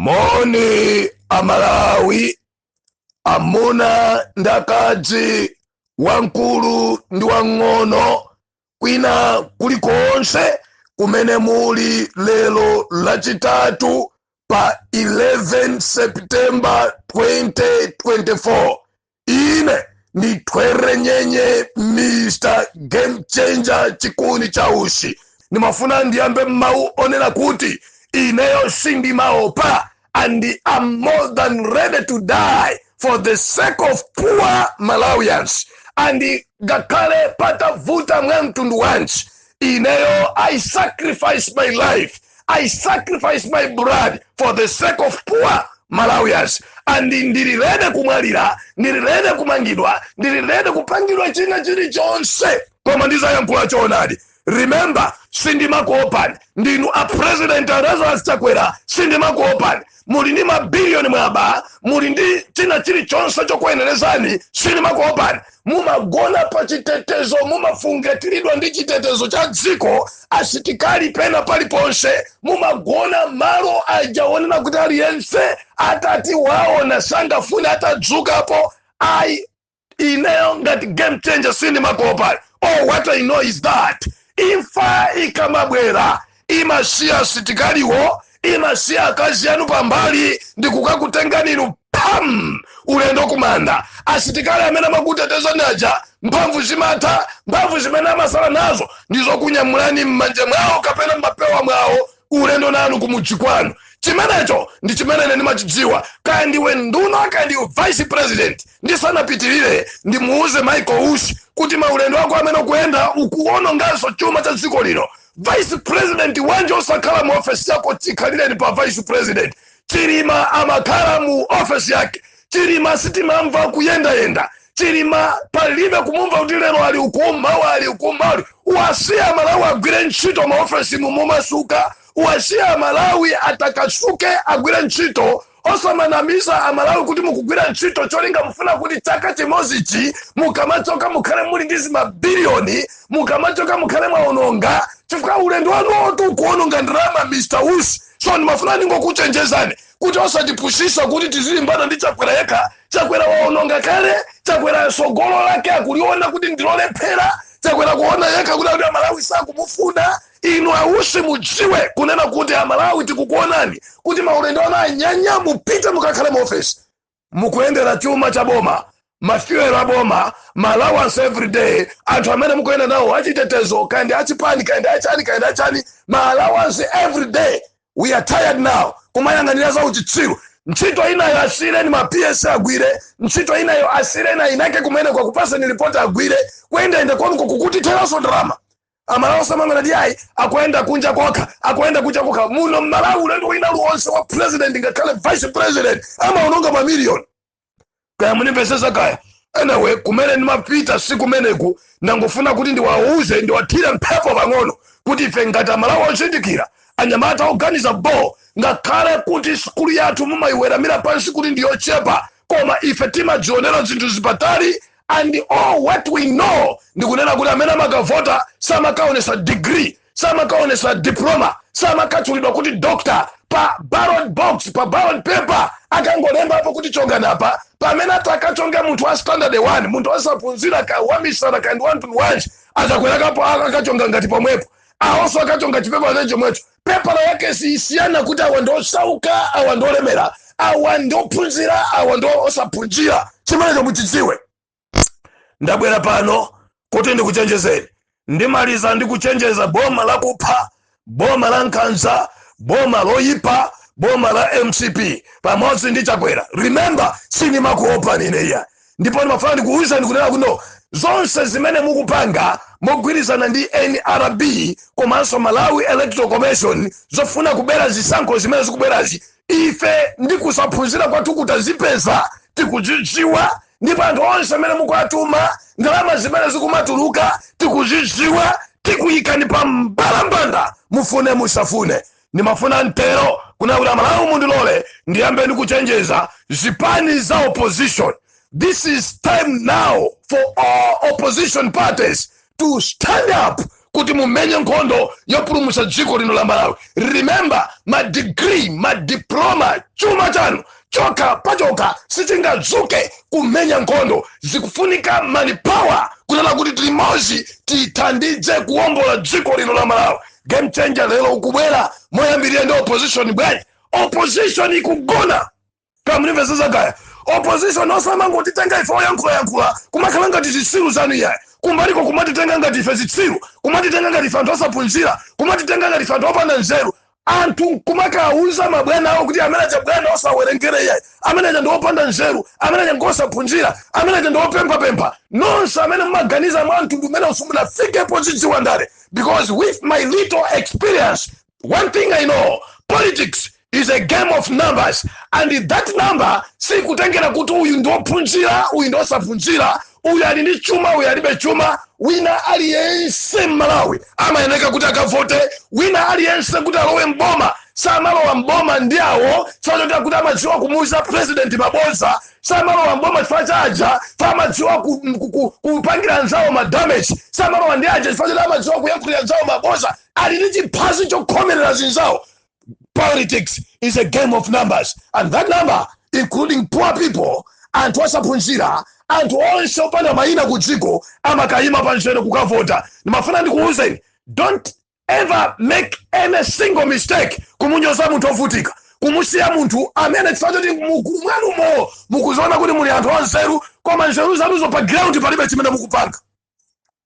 Moni a Malawi, amuna ndi akazi, wamkulu ndi wang'ono, kwina kulikonse kumene muli lero Lachitatu pa 11 September 2024. ine ndi Ntwerenyenye mr game changer chikuni cha utsi ndimafuna ndiyambe ndi mawu onena kuti ineyo sindimaopa and I'm more than ready to die for the sake of poor malawians and ngakhale patavuta mwa mtundu wanji ineyo i sacrifice my life i sacrifice my blood for the sake of poor malawians and ndili rede kumwalira ndili rede kumangidwa ndili rede kupangidwa china chilichonse koma ndizayankhula choonadi remember sindimakuopani ndinu a president a lazarus chakwera sindimakuopani muli ndi mabiliyoni mwaba muli ndi china chilichonse chokuyenerezani sindimakuopani mumagona pa chitetezo mumafungatiridwa ndi chitetezo cha dziko asitikali pena paliponse mumagona malo aja onena kuti aliyense atati waona sangafune atadzukapo ayi ineyo ngati game changer sindimakuopani all what i know is that imfa ikamabwera imasiya asitikaliwo imasiya akazi anu pambali ndikukakutengani inu pam ulendo kumanda asitikali amene amakutetezani aja mphamvu zimatha mphamvu zimene amasala nazo ndizokunyamulani m'manja mwawo kapena m'mapewa mwawo ulendo nanu kumudzi kwanu chimenecho ndi chimene ine ndimachidziwa kaya ndiwe nduna kaya ndiwe vice president ndisanapitirire ndimuuze michael usi kuti maulendo ako amene ukuyenda ukuononganso chuma cha dziko lino vice president wanji osakhala mu ofesi yako chikhalireni pa vice president chilima amakhala mu ofesi yake chilima sitimamva kuyendayenda chilima palibe kumumva kuti lero ali uku mawa ali uku mawa ali- uwasiye amalawi agwire ntchito maofesimu momasuka uwasiye amalawi atakasuke agwire ntchito osamanamiza amalawi kuti mukugwira ntchito cholinga mufuna kuti chaka chimozichi mukamachoka mukhale muli ndi zimabiliyoni mukamachoka mukhale mwaononga chifukwa ulendo wanuwotu ukuononga ndalama mr usi so ndimafuna ndingokuchenjezani kuti osatipusisa kuti tizilimbana ndi chakwera yekha chakwera waononga kale chakwera sogolo lake akuliona kuti ndilolephera chakwera akuona yekha kuti akuti amalawi sakumufuna inu a usi mudziwe kunena kuti amalawi tikukuonani kuti maulendo anu anyanya mupite mukakhale mu ofesi mukuyendera chuma cha boma mafuel a boma ma allowance every day anthu amene mukuyenda nawo achitetezo kaya ndi achipani kaya ndi achani kaya ndi achani ma allowance every day we are tired now kumayang'anira za uchitsiru ntchito inayo asiyireni ma ps agwire ntchito inayo asiyireni ayinake kumene kokakupatsani ripoti agwire kuyendayenda kwanuko kukutitheranso ndalama amalawi osamangonena kuti ayi akuyenda kunja kokha akuyenda kunja kokha muno mmalawi ulendo wina uliwonse wa president ngakhale vice president amaononga mamiliyoni kaya mundimvetsetsa kaya anyway kumene ndimapita si kumeneku ndangofuna kuti ndiwauze ndiwathire mphepo pang'ono kuti ife ngati amalawi ozindikira anyamata oganiza bo ngakhale kuti sikulu yathu mumayiweramira pansi kuti ndiyochepa koma ife timazionera zinthu zili patali and all what we know ndikunena kuti amene amakavota samakaonetsa degree samakaonetsa diploma samakatchulidwa kuti doctor pa ballot box pa ballot paper akangolembapo kuti chongani apa pamene atakachonga munthu wa standard 1 munthu osaphunzira kaya wamisala kaya ndi wamtundu wanji akakwera kapo akachonga ngati pomwepo awonso akachonga chipepa chake chomwecho pepala yake siyisiyana kuti awa ndi osauka awa ndi olemera awa ndi ophunzira awa ndi osaphunzira chimenecho muchidziwe ndabwera pano kuti ndikuchenjezeni ndimaliza ndikuchenjeza boma lakupha boma la nkhanza boma loyipa boma la mcp pamodzi ndi chakwera remember sindimakuopani ine iya ndipo ndimafuna ndikuwuzeni kunena kuti zonse zimene mukupanga mogwirizana ndi nrb komanso malawi electoral commission zofuna kubera zisankho zimene zikubwerazi ife ndi kusaphunzira kwathuku tazipeza tikuzidziwa ndipo anthu onse amene mukuwatuma ndalama zimene zikumatuluka tikuzidziwa tikuyikani pa mbalambanda mufune musafune ndimafuna ntero kunena kuti amalawi mundilole ndiyambe ndikuchenjeza zipani za opposition this is time now for all opposition parties to stand up kuti mumenye nkhondo yopulumutsa dziko lino la malawi remember madigiri madiploma chuma chanu chokha pachokha sichingadzuke kumenya nkhondo zikufunika manpower kunena kuti tilimodzi tithandize kuwombola dziko lino la malawi game changer lero ukubwera moyambirira ndi opposition bwanji opposition ikugona kaya mukumvetsetsa kaya opposition osamangotitenga ife oyankhulayankhula kumakhala ngati zitsiru zanu iyayi kumbaliko kumatitenga ngati ife zitsiru kumatitenga ngati ife anthu osaphunzira kumatitenga ngati ife anthu opanda nzeru anthu kumakawuza mabwana awo kuti amene aja bwana osawerengere iyayi amene aja ndi opanda nzeru amene aja ngosaphunzira amene aja ndi opemphapempha nonse amene mumaganiza mwa mtundu umenewu simunafike pozidziwa ndale because with my little experience one thing i know politics is a game of numbers and that number sikutengera kuti uyu ndiophunzira uyu ndiosaphunzira uyu ali ndi chuma uyu alibe chuma wina aliyense mmalawi amayeneka kuti akavote wina aliyense kuti alowe mboma samalowa mboma ndi awo zachoti kuti amadziwa kumuuza president mabodza samalowa mboma chifukwa cha aja amadziwa kupangira anzawo ma damage samalowa ndi aja chifukwa choti amadziwa kuyankhulira anzawo mabodza ali ndi chiphazi chokhomerera zinzawo politics is a game of numbers and that number including poor people anthu osaphunzira anthu onse opanda mayina ku dziko amakayima pa nzere kukavota ndimafuna ndikuwuzeni don't ever make any single mistake kumunyoza munthu ovutika kumusiya munthu amene chifukwa choti mmutu mwanumo mukuziona kuti muli anthu anzeru koma nzeru zanuzo pa ground palibe chimene mukupanga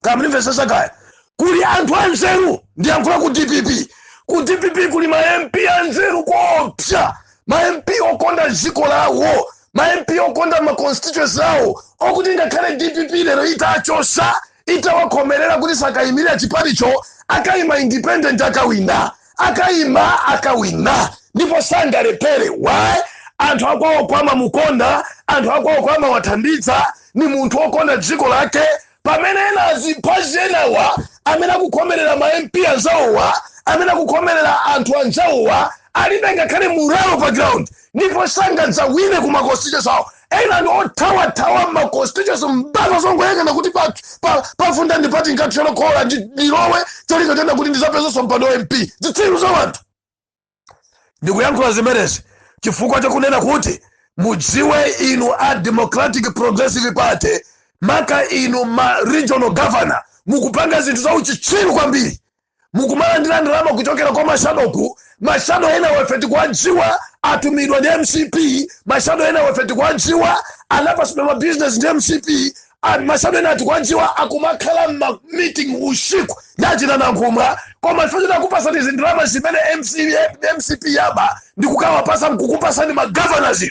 kandimvesese kaya kuli anthu anzeru ndiyankhula ku dpp ku dpp kuli ma mp anzeru koopsa ma mp okonda dziko lawo ma mp okonda ma constituency awo okuti ngakhale dpp lero itachosa itawakhomelera kuti sakayimirira chipanicho akayima independent akawina akayima akawina ndipo sangalephere why anthu akwawoko amamukonda anthu akwawoko amawathandiza ni munthu wokonda dziko lake pamene ena aziphazi enawa amene akukhomelera ma mp anzawowa amene akukhomelera anthu anzawowa alibe ngakhale moralo pa ground ndipo sangadzawine ku ma constituency zawo ena ndi othawathawa mma constituency mpaka azingoyang'ana kuti pa- pa- pafunda ndi pati nkakhola khola ndi- ndilowe cholinga chonena kuti ndizapezanso mpando wa mp zitsiru za wanthu ndikuyankhula zimenezi chifukwa chakunena kuti mudziwe inu a democratic progressive party maka inu ma regional governor mukupanga zinthu za uchitsiru kwambiri mukumalandira ndalama kuchokera kwa mashado mashado ena ife tikuwadziwa atumidwa ndi mcp mashado ena ife tikuwadziwa anapasidwa mabizinesi ndi mcp a- mashado ena tikuwadziwa akumakhala mmameeting usiku ndi achina nankhumwa koma pofuna akupasani izi ndalama zimene MC mcp yaba ndikukawapasa mkukupasani magovernors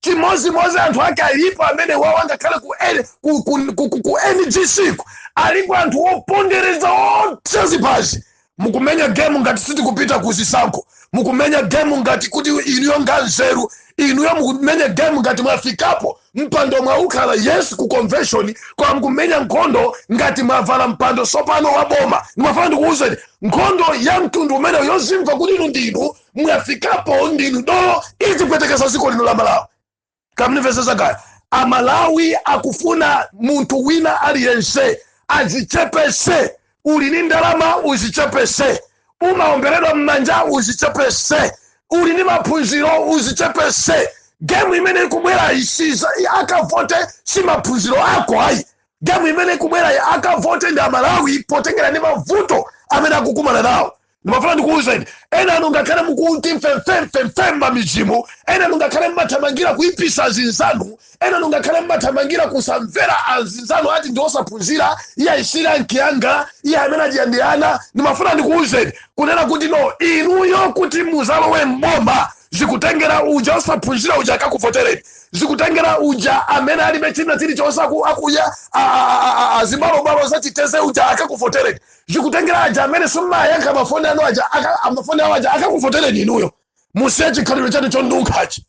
chimozimozi anthu ake alipo amene wawo angakhale ku, N- ku, ku, ku, ku, ku ngc ku aliko anthu wopondereza osa ziphazi mukumenya gemu ngati sitikupita ku zisankho mukumenya gemu ngati kuti inuyo ndi anzeru inuyo mukumenya gemu ngati mwafikapo mpando mwaukhala yes ku convention kwa mukumenya nkhondo ngati mwavala mpando sopano wa boma ndimafuna ndikuwuzeni nkhondo ya mtundu umeneyo yozimva kuti inu ndinu mwafikapo ndinu dolo izi zikupwetekesa ziko lino la malawi kamnimvesesa kaya amalawi akufuna munthu wina aliyense azichepese uli ni ndalama uzichepese umaomberedwa mmanja uzichepese uli ni maphunziro uzichepese gemu imene ikubwera isiza akavote si maphunziro ako ayi gemu imene ikubwera akavote ndi amalawi potengera ndi mavuto amene akukumana nawo ndimafuna ndikuwuzeni ena anu ngakhale mukuti mfemfemfemfem mamizimu ena anu ngakhale mmathamangira kuipisa azinzanu ena anu ngakhale mmathamangira kusamvera azinzanu ati ndi osaphunzira iyeyu si rank yanga iye amene adya ndi ana ndimafuna ndikuwuzeni kunena kuti no inuyo kuti muzalowe mboma zikutengera uja osaphunzira uja akakuvotereni zikutengera uja amene alibe china chilichonse aku- akuya a- a- a- a- a- zibalobalo zachiteze uja akakuvotereni zikutengera aja amene simumayankha mafoni anu aja mafoni awo aja akakuvotereni inuyo musiye chikhalidwe chanu chondunkhachi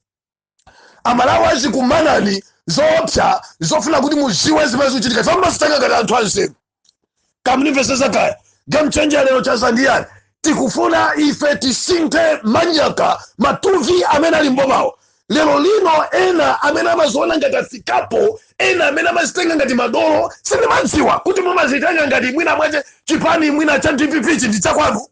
amalawi azikumanani zoopsa zofuna kuti muziwe zimene zikuchitika ife mumazitenga ngati anthu anzeru kamnimvesesa kaya game changer lero cha za ndiyani tikufuna ife tisinthe manyaka matuvi amene ali mbomawo lero lino ena amene amaziona ngati afikapo ena amene amazitenga ngati madolo sindimadziwa kuti mumazitenga ngati mwina mwache chipani mwina cha dppchi ndi chakwanu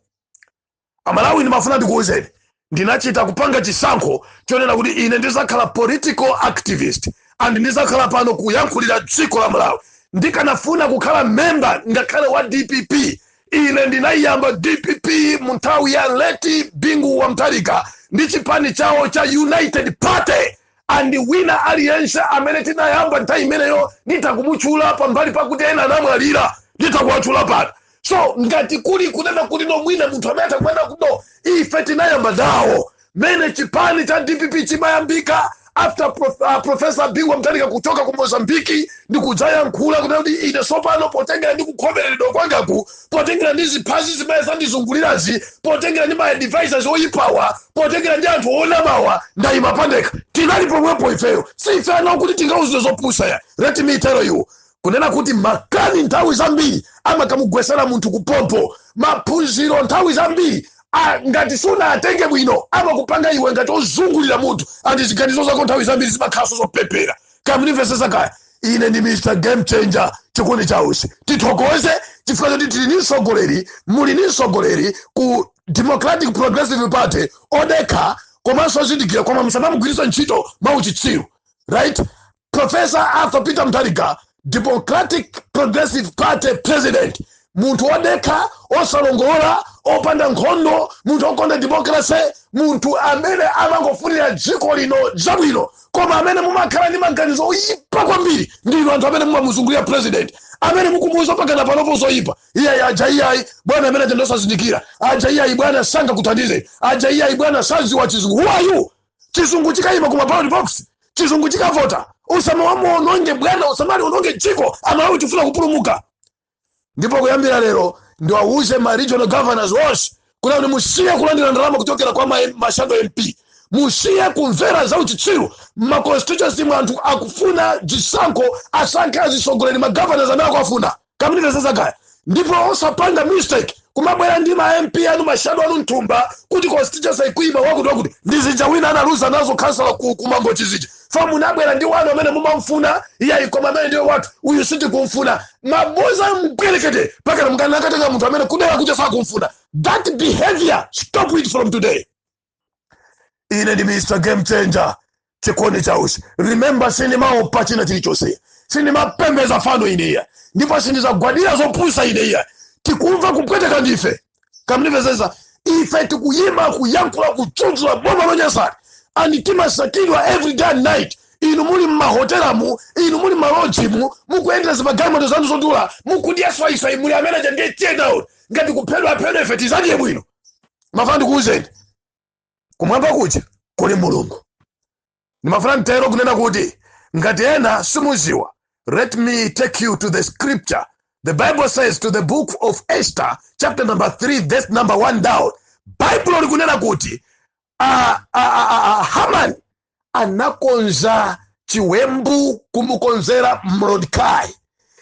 amalawi ndimafuna ndikuwuzeni ndinachita kupanga chisankho chonena kuti ine ndizakhala political activist and ndizakhala pano kuyankhulira dziko la malawi ndikanafuna kukhala memba ngakhale wa dpp ine ndinayiyamba dpp mu nthawi ya leti bingu wa mtharika ndi chipani chawo cha united party andi wina aliyense amene tinayamba nthawi imeneyo nditha kumutchula pambali pakuti ena anamwalira nditha kuwatchula pano so ngati kuli kunena kuti no mwina munthu amene atakumana kuno ife tinayamba nawo mene chipani cha dpp chimayambika after profesa bingu wa mtharika kuchoka ku mozambiki ndi kudzayankhula kunena kuti ine sopano potengera ndi kukhomereredwa kwangaku potengera ndi zimphazi zimene zandizungulirazi potengera ndi maadvisors oyipawa potengera ndi anthu onamawa ndayima pandekha tinali pomwepo ifeyo si ife ana oti tingauzidwe zopusa ya let me tell you kunena kuti makani nthawi zambiri amakamugwesera munthu kuphompho maphunziro nthawi zambiri a- ngati sunawatenge bwino amakupanga iwe ngati ozungulira mutu andi ziganizo zako nthawi zambiri zimakhalanso zopepera kamnimvesesa kaya ine ndi mr game changer chikondi chausi tithokoze chifukwa choti tili ni mtsogoleri muli ni mtsogoleri ku democratic progressive party odekha komanso ozindikira koma musamamugwiritsa ntchito mwauchitsiru right Professor Arthur Peter Mutharika, Democratic Progressive Party President, munthu wodekha osalongolora opanda nkhondo munthu okonda democracy munthu amene amangofunira dziko lino zabwino koma amene mumakhala ndi maganizo oyipa kwambiri ndi inu anthu amene mumamuzungulira president amene mukumuuza pakana panopo zoyipa iyayi aja iyayi bwana amene aja ndosazindikira aja iyayi bwana sangakuthandize aja iyayi bwana saziwa chizungu who are you chizungu chikayima kuma ballot box chizungu chikavota musamamuononge bwana musamaliononge dziko amalawi tifuna kupulumuka ndipo kuyambira lero ndiwauze ma regional governors onse kuti kuti musiye kulandira ndalama kuchokera kwa ma- mashado mp musiye kumvera za uchitsiru ma constituency mu anthu akufuna zisankho asankhe azitsogoleri ma governors amene akuwafuna kamundimvetsetsa kaya ndipo osapanga mistake kumabwera ndi ma mp anu mashado anu mthumba kuti constituency akuima wakuti wakuti ndi zija wina analuza nazo khansala ku- kumangochi zija pa munabwera ndi wanu amene mumamfuna iyayi koma amene ndiye wathu uyu sitikumfuna maboza mpwerekete pakana mukana akatenga munthu amene kudera kuja sakumfuna that behavior stop it from today ine ndi mr game changer chikondi cha Usi remember sindimaopa china chilichonse sindimapembeza fano ineya ndipo sindizagwadira zopusa ineya tikumva kupweteka ndife kamundimvetsetsa ife tikuyima kuyankhula kudzudzula boma lonyasani and timasakidwa every day and night inu muli mmahotelamu inu muli mmalodjimu mukuyendera zimagalimoto zanu zodula mukudya swaiswai muli amene aja ndiye tear down ngati kuphedwa aphedwa ife tizadye bwino mafuna ndikuwuzeni kumwamba kuja kuli mulungu ndimafuna nditero kunena kuti ngati ena simuziwa let me take you to the scripture the bible says to the book of esther chapter number 3 verse number 1 down baibulo likunena kuti uh, uh, uh, uh, haman anakonza chiwembu kumukonzera mordecai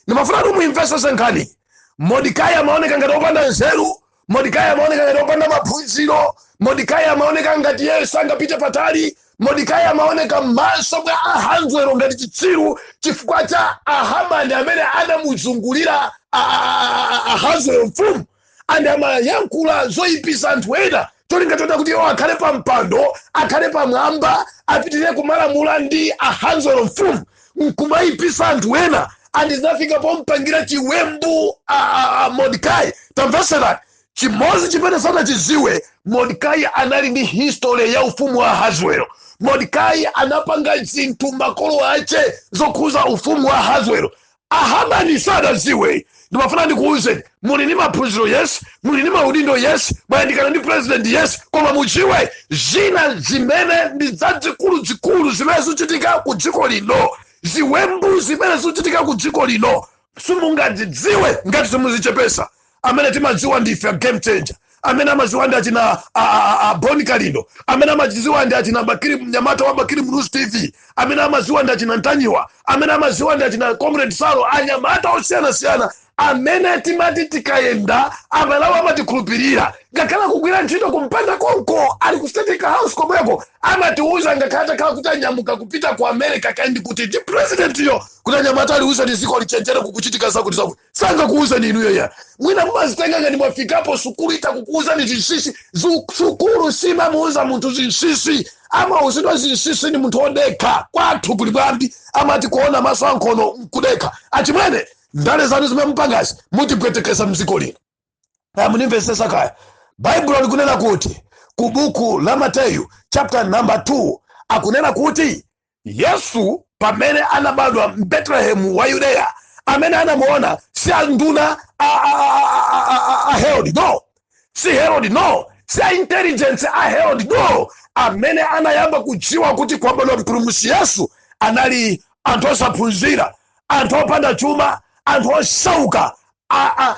ndimafuna kuti muimvesese nkhani mordecai amaoneka ngati opanda nzeru mordecai amaoneka ngati opanda maphunziro mordecai amaoneka ngati yeye sangapite patali mordecai amaoneka m'maso mwa Ahaswero ngati chitsiru chifukwa cha ahamani amene anamuzungulira a- a- a- a- Ahaswero mfumu and amayankhula zoyipisa anthu ena cholinga choti kuti iwo akhale pa mpando akhale pamwamba apitirire kumalamula ndi Ahaswero mfumu nkumayipisa anthu ena and zinafika pompangira chiwembu a, a, a mordecai tamveserani chimodzi chimene sanachiziwe mordecai anali ndi history ya ufumu wa Ahaswero mordecai anapanga zinthu makolo ache zokhuza ufumu wa Ahaswero a Hamani sadaziwe ndimafuna ndikuwuzeni muli ndi maphunziro yes muli ndi maudindo yes mwayandikana ndi president yes koma mudziwe zina zimene ndi zazikuluzikulu zimene zikuchitika ku dziko lino ziwembu zimene zikuchitika ku dziko lino simungazidziwe ngati simuzichepesa amene timadziwa ndife a game changer amene amadziwa ndi achina a- a- a- a Bon Kalindo amene amadziwa ndi achina Bakiri Mnyamata wa Bakiri Muluzi TV amene amadziwa ndi achina Ntanyiwa amene amadziwa ndi achina Comrade Salo anyamata osiyanasiyana amene timati tikayenda aMalawi amatikhulupirira ngakhale kugwira ntchito kumpanda konko ali ku state house komweko amatiuza ngakhale atakhala kuti anyamuka kupita ku america kaya ndi kuti ndi presidentiyo kuti anyamata aliuzeni dziko lichenjere kukuchitika zakuti zakuti sangakuuzeni inuyo ya mwina mumazitenga ngati mwafikapo sukulu itakukuuzani zinsisi Zu- sukulu simamuuza munthu zinsisi amauzidwa zinsisi ni munthu odekha kwathu kuli mwambi amati kuona maso ankhono nkudekha achimwene ndale zanu zimene mupangazi mutipwetekesa mdziko lino munimvesesa kaya baibulo likunena kuti ku buku la mateyu chapter number 2 akunena kuti Yesu pamene anabadwa m'Betelehemu wa Yudeya, amene anamuona si anduna a, a, a, a, a Herodi no, si Herodi no, si a intelligence a Herodi no, amene anayamba kudziwa kuti kwabadwa mpulumutsi Yesu anali anthu osaphunzira, anthu opanda chuma, anthu osauka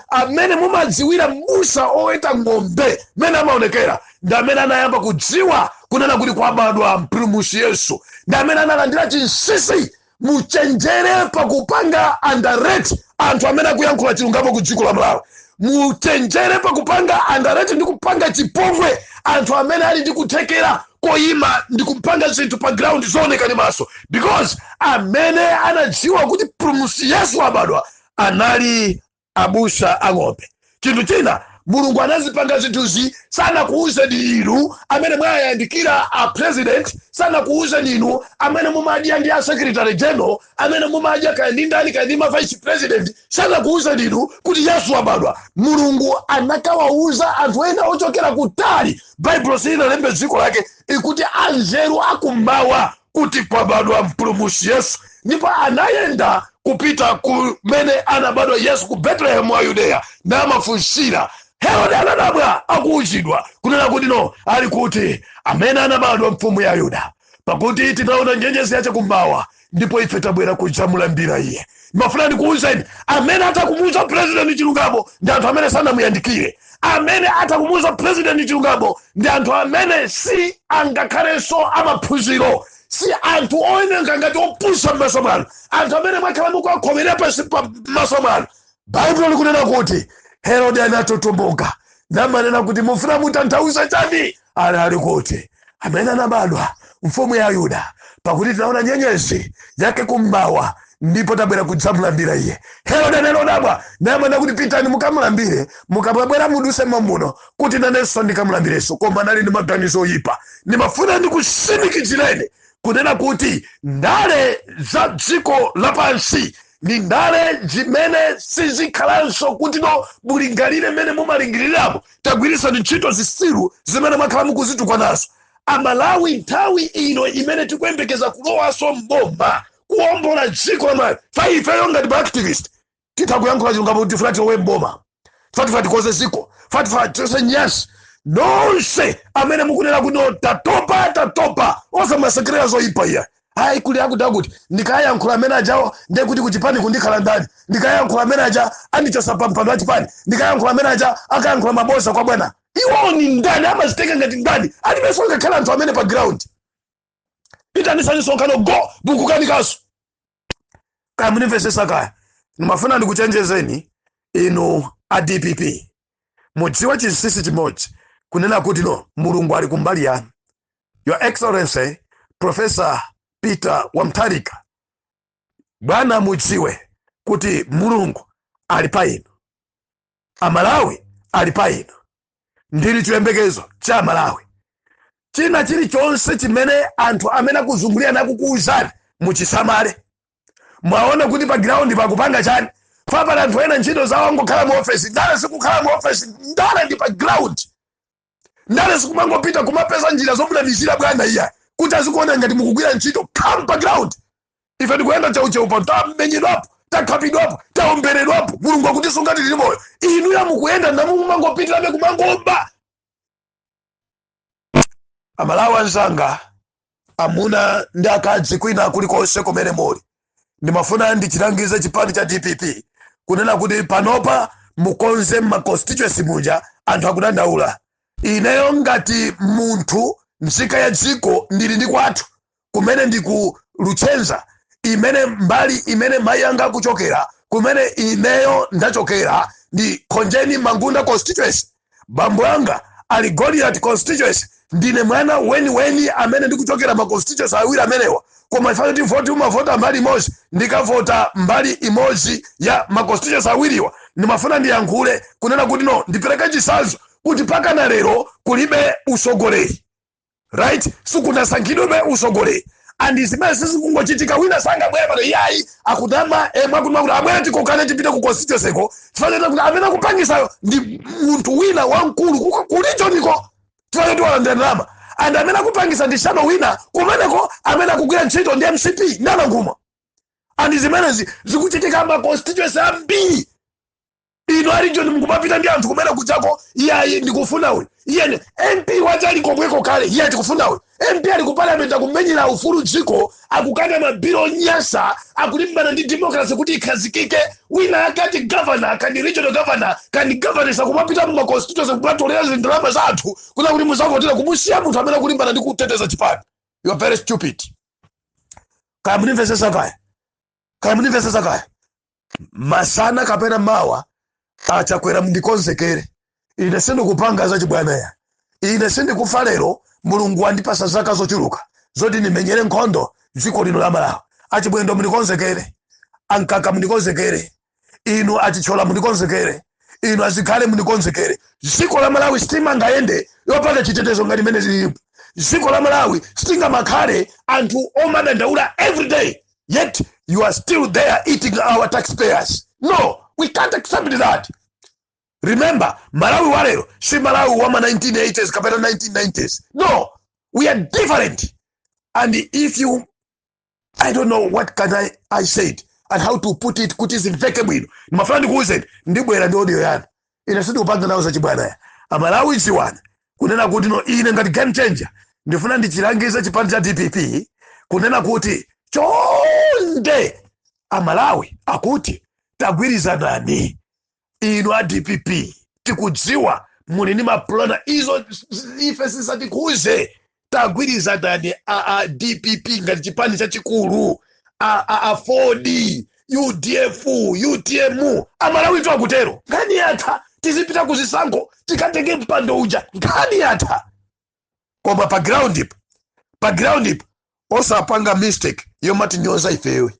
amene mumadziwira mbusa oweta ng'ombe mmene amaonekera ndi amene anayamba kudziwa kunena kuti kwabadwa mpulumusi yesu ndi amene analandira chinsisi muchenjere pakupanga underrate anthu amene akuyankhula chilungamo ku dziko la malawi muchenjere pakupanga underrate ndi kupanga chipongwe anthu amene ali ndi kuthekera koyima ndi kupanga zinthu pa ground zooneka ndi maso because amene anadziwa kuti mpulumusi yesu wabadwa anali abusa a ng'ombe chinthu china mulungu anazipanga zinthuzi sanakuwuzeni inu amene mwayandikira a president sanakuwuzeni inu amene mumadya ndi a secretary general amene mumadya kaya ndi ndani kaya ndi ma vice president sanakuwuzeni inu kuti yesu wabadwa mulungu anakawawuza anthu ena ochokera kutali baibulo silinalembe dziko lake ikuti anzeru akummawa kuti kwabadwa mpulumusi yesu ndipo anayenda kupita kumene anabadwa yesu ku betelehemu wa yudeya namafunsira herode anadabwa akuuzidwa kunena kuti no ali kuti amene anabadwa mfumu ya ayuda pakuti tinaona nyenyezi yache kummawa ndipo ife tabwera kudzamulambira iye mafuna ndikuuzeni amene atakumuuza purezidenti chilungamo ndi anthu amene sanamuyandikire amene atha kumuuza president chilungamo ndi anthu amene si angakhalenso amaphunziro si anthu owoneka ngati opusa m'maso mwanu anthu amene mwakhala mukuwakhomera pansi pa maso mwanu baibulo likunena kuti herode anatutumuka namanena kuti mufuna mutanthauza chani ali ali kuti amene anabadwa mfumu ya ayuda pakuti tinaona nyenyezi yake kummawa ndipo tabwera kudzamulambira iye herode anadabwa namanena kuti pitani mukamulambire mukamabwera muduse momuno kuti nanenso ndikamulambirenso koma anali ndi maganizo oyipa ndimafuna ndikusimikizireni kunena kuti ndale za dziko lapansi ndi ndale zimene sizikhalanso kuti no mulingalire mmene mumalingirirapo tagwirisani ntchito zisiru zimene mwakhala mukuzitukwanazo amalawi nthawi ino imene tikuyembekeza kulowanso mboma kuombola dziko la malawi pa ifeyo ngati maactivist titha kuyankhula chilungamo kuti tifuna tilowe mboma tifuna tikonze ziko tifuna tichose nyasi nonse amene mukunena kuti no tatopa tatopa osamasekerera zoyipa iya ayi kuli akuti kuti ndikayankhula amene ajawo ndiye kuti kuchipani kundikhala ndani ndikayankhula amene aja andichosa pa mpando wa chipani ndikayankhula amene aja akayankhula mabodza kwa bwana iwowo ni ndani amadzitenga ngati ndani alibenso ngakhale anthu amene pa ground itanisani msonkhano mukukanikaso kaya mukundimvesesa kaya ndimafuna ndikuchenjezeni inu a dpp mudziwe chinsinsi chimodzi kunena kuti no mulungu ali kumbali yanu your excellency professor peter wa mutharika bwana mudziwe kuti mulungu ali pa inu amalawi ali pa inu ndinu chiyembekezo cha amalawi china chilichonse chimene anthu amene akuzungulira nakukuwuzani muchisamale muwone kuti pa ground pakupanga chani pali anthu ena ntchito zawo angokhala mu ofesi ndale sikukhala mu ofesi ndale ndi pa ground ndale sikumangopita kumapeza njira zomunamizira bwana iya kuti azikuona ngati mukugwira ntchito come pa ground ife tikuyenda tcheutcheu pano tamenyedwapo takhapidwapo taomberedwapo mulungu akutisunga tili moyo inuya mukuyenda namumangopitirabe kumangoba amalawi anzanga amuna ndi akazi kwina kulikonse kumene muli ndimafuna ndichilangize chipani cha dpp kunena kuti panopa mukonze m'maconstituency muja anthu akudandaula ineyo ngati munthu nzika ya dziko ndili ndi kwathu kumene ndi ku luchenza imene mbali imene mayi anga akuchokera kumene ineyo ndachokera ndi khonjeni mangunda constituency bambo anga ali Goliati constituency, ndine mwana weniweni amene ndikuchokera ma constituency awiri amenewa, koma chifukwa choti voti umavota mbali imodzi, ndikavota mbali imodzi ya ma constituency awiriwa, ndimafuna ndiyankhule kunena kuti no, ndipereke chitsanzo kuti mpakana lero kulibe utsogoleri. right sikunasankhidwebe usogoleri and zimenezi zikungochitika wina sangabwere pano iyayi akutama emwe akutuma kuti abwere tikokane tipite ku constituency ko tifanira kuti amene akupangisayo ndi munthu wina wamkulu kuko- ku regioniko tifanira kuti walandira ndalama and amene akupangisa ndi shadow wina kumeneko amene akugwira ntchito ndi mcp ndi a nankhumwa and zimenezi zikuchitika ma constituency ambiri inu a region mukumapita ndi anthu kumene kuchako iyayi ndikufuna uyu iyene mp wacha ali komweko kale iye tikufuna uyu mp ali ku parliament akumenyera ufulu dziko akukana mabilu onyasa akulimbana ndi democracy kuti ikhazikike wina akati governor kani regional governor kani governors akumapita muma constituency kumatolera zindalama za anthu kuti akuti muzavotera kumusiya munthu amene akulimbana ndi kuteteza chipani you are very stupid kaya munimvesesa kaya kaya mundimvetsetsa kaya masana kapena mawa a chakwera mndikonzekere ine sindikupanga zachibwanayi ine sindikufa lero mulungu wandipasa zaka zochuluka zoti ndimenyere nkhondo dziko lino la malawi a chimwendo mndikonzekere a mkaka mndikonzekere inu a chithyola munikonzekere inu a zikhale munikonzekere dziko la malawi sitimangayende yopanda chitetezo ngati mmene zilipo dziko la malawi sitingamakhale anthu omadandaula everyday yet you are still there eating our taxpayers no we can't accept that remember malawi wa lero si malawi wa ma 1980s kapena 1990s no we are different and if you i don't know what can i, I said and how to put it kuti zimveke bwino ndimafuna ndikuwuzeni ndibwera ndi audio yina ine sindikupanga nawo zachibwanaya amalawi dziwani kunena kuti no ine ngati game changer ndifuna ndichilangize chipani cha dpp kunena kuti chonde amalawi akuti tagwirizanani inu a dpp tikudziwa muli ndi mapulani izo ife zisatikhuze tagwirizanani a, a dpp ngati chipani chachikulu a, a, aford udf utm amalawitu akutero nkhani yatha tizipita kuzisankho tikatenge mpando uja nkhani yatha koma pa ground pa pa ground osapanga mistake yomatinyoza ifewe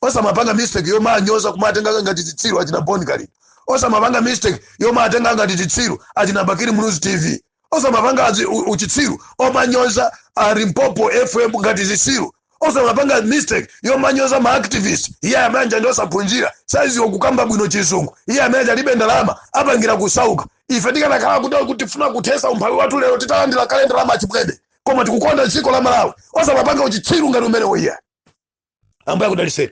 osamapanga mistake yomanyoza kumatenga ngati chitsiru achina boni kali osamapanga mistake yomatenga ngati chitsiru achina bakiri muluzi tv osamapanga azi- u- uchitsiru omanyoza a limpopo fm ngati zisiru osamapanga mistake yomanyoza ma activist iye amene uja ndi osaphunzira saziwa kukamba bwino chizungu iye amene uja alibe ndalama apangira kusauka ife tikanakhala kuda kuti tifuna kuthesa umphawi wathu lero titalandira kale ndalama achipwede koma tikukonda dziko la malawi osamapanga uchitsiru ngati umenewo iye ambuye akudaliseni